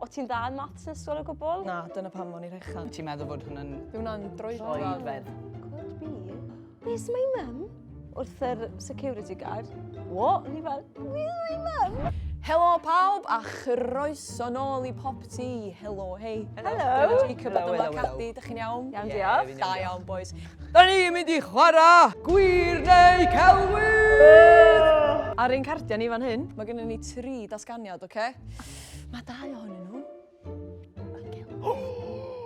O ti'n dda yn maths yn ysgol o gwbl? Na, dyna pam o'n i rechan. Ti'n meddwl fod hwnna'n... Yw hwnna'n droedfedd? Could be. Where's my mum? Wrth yr security guard. What? Ni fel, where's my mum? Helo pawb a chroeso nôl i pop ti. Helo, hei. Helo. Helo, Jacob a dyma Caddi. Dych chi'n iawn? Iawn, diolch. Da iawn, boys. Da ni'n mynd i chwarae gwir neu celwyr! Ar ein cardiau ni fan hyn, mae gennym ni tri dasganiad, oce? Okay? Mae dau ohonyn nhw.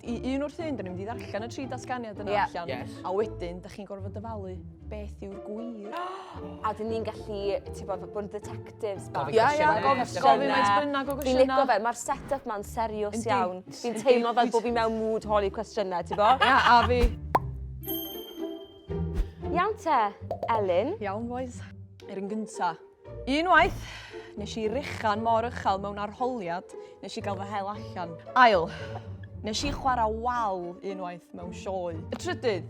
I un wrth un, da ni'n mynd i ddarllen y tri datganiad yna yeah. allan. Yes. A wedyn, da chi'n gorfod dyfalu beth yw'r gwir. a dyn ni'n gallu, ti bod, bod yn detectives bach. Ia, ia, gofyn maes bynnag o gwestiynau. Fi'n licio fe, mae'r set-up ma'n serios iawn. Fi'n teimlo fel bod fi mewn mood holi cwestiynau, ti bod? Ia, a fi. Iawn te, Elin. Iawn, boys. Er yn gyntaf, Unwaith, nes i ruchan mor uchel mewn arholiad, nes i gael fy hel allan. Ail, nes i chwarae wal unwaith mewn sioe. Y trydydd,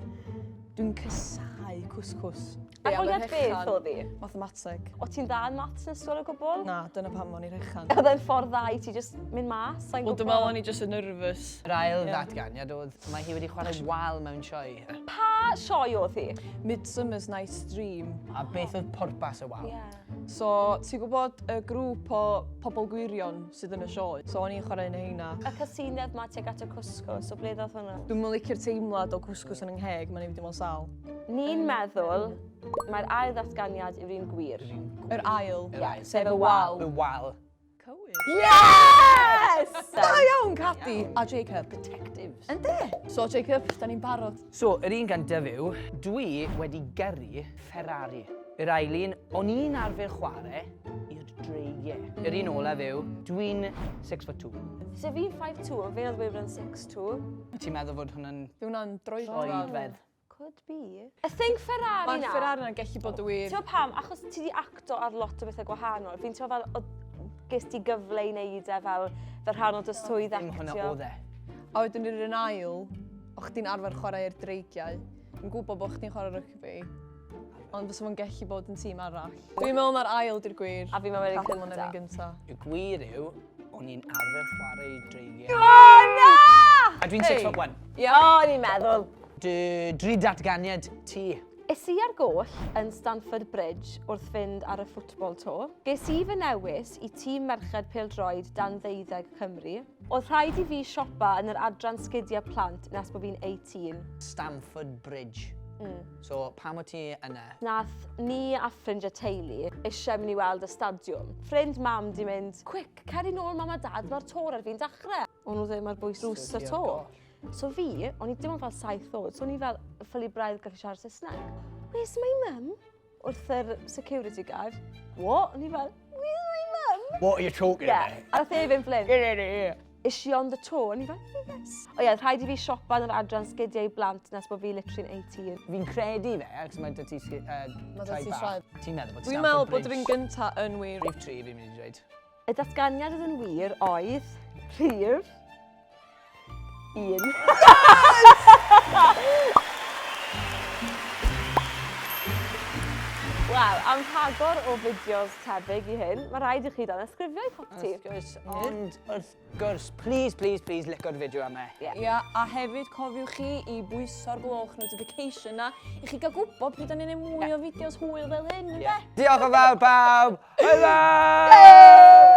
dwi'n cysau cwscws. Arholiad beth oedd hi? Mathemateg. O ti'n dda yn maths yn ysgol o gwbl? Na, dyna pam o'n i rechan. Oedd e'n ffordd dda i ti just mynd mas? Wel, dwi'n meddwl o'n i just yn nervous. Yr ail ddatganiad oedd, mae hi wedi chwarae wal mewn sioe. Pa sioe oedd hi? Midsummer's Night's Dream. A beth oedd pwrpas y wal? Yeah. So, ti'n gwybod y grŵp o pobl gwirion sydd yn y sioe? So, o'n i'n chwarae yn heina. Y casinedd ma teg at y cwsgo, so ble ddoth hwnna? Dwi'n mynd licio'r teimlad o cwsgws yn yngheg, mae'n ei fyddi mo'n sal. Ni'n meddwl mae'r ail ddatganiad yw'r un gwir. Yr ail? Yr ail. Sef y wal. Y wal. Cywir. Yes! Da iawn, Cadi! A Jacob, detectives. Yndi. So, Jacob, da ni'n barod. So, yr un gan dyfu, dwi wedi gyrru Ferrari. Yr ailun, o'n i'n arfer chwarae i'r dreigiau. Yr un olaf yw, dwi'n 6 foot 2. So fi'n 5'2", fe oedd Weyburn 6'2". Ti'n meddwl fod hwnna'n... Yw hwnna'n droedfedd? Droedfedd. Could be. I think Ferrari na. Mae'r Ferrari na'n gallu bod y wir. Ti'n pam? Achos ti di acto ar lot o bethau gwahanol. Fi'n ti'n fel, ges ti gyfle i wneud e fel, fel rhan o dy swydd actio. Dim hwnna oedd e. A wedyn yr un ail, o chdi'n arfer chwarae i'r dreigiau. Yn gwybod bod chdi'n chwarae rygbi. Ond fysa fo'n gallu bod yn tîm arall. Dwi'n meddwl mae'r ail di'r gwir. A fi'n meddwl yn gyntaf. Cathal yn gyntaf. Y gwir yw, O'n i'n arfer chwarae dreigiau. Oh, na! A dwi'n six foot one. Ia, o'n i'n meddwl. Dy, dri datganiad ti. Es i ar goll yn Stanford Bridge wrth fynd ar y ffwtbol to. Ges i fy newis i tîm merched pildroed dan ddeuddeg Cymru. Oedd rhaid i fi siopa yn yr adran sgidiau plant nes bod fi'n 18. Stanford Bridge. Mm. So pam wyt ti yna? Nath ni a ffrind a teulu eisiau mynd i weld y stadiwm. Ffrind mam di mynd, quick, cer i nôl mam a dad, mae'r tor ar fi'n dachrau. O'n nhw ddim ar bwys drws y to. So fi, o'n i dim ond fel saith oed, so o'n i fel ffili braidd gallu siarad Saesneg. Where's my mum? Wrth yr security guard. What? O'n i fel, where's my mum? What are you talking yeah. about? A nath e fynd flin. Is she on the tour? O'n i fel, yes! O ie, rhaid i fi siopa yn yr adran sgidiau blant nes bod fi literally'n 18. Fi'n credu fe, achos mae dy ti sgi- yy, Mae 'da ti traed traed. bach. Ti'n meddwl bod Dwi'n Stamford meddwl bod yr un Bridge- gynta yn wir. Rhif tri fi'n mynd i dweud. Y datganiad oedd yn wir oedd rhif un. Wel, am rhagor o fideos tebyg i hyn, mae rhaid i chi danysgrifio i popty. Wrth gwrs. Ond wrth gwrs, please, please, please, licio'r fideo yma. Ie, yeah. yeah, a hefyd cofiwch chi i bwyso'r gloch notification na, i chi gael gwybod pryd o'n i'n mwy o fideos hwyl fel hyn, yeah. Diolch yn fawr bawb! Hwyl!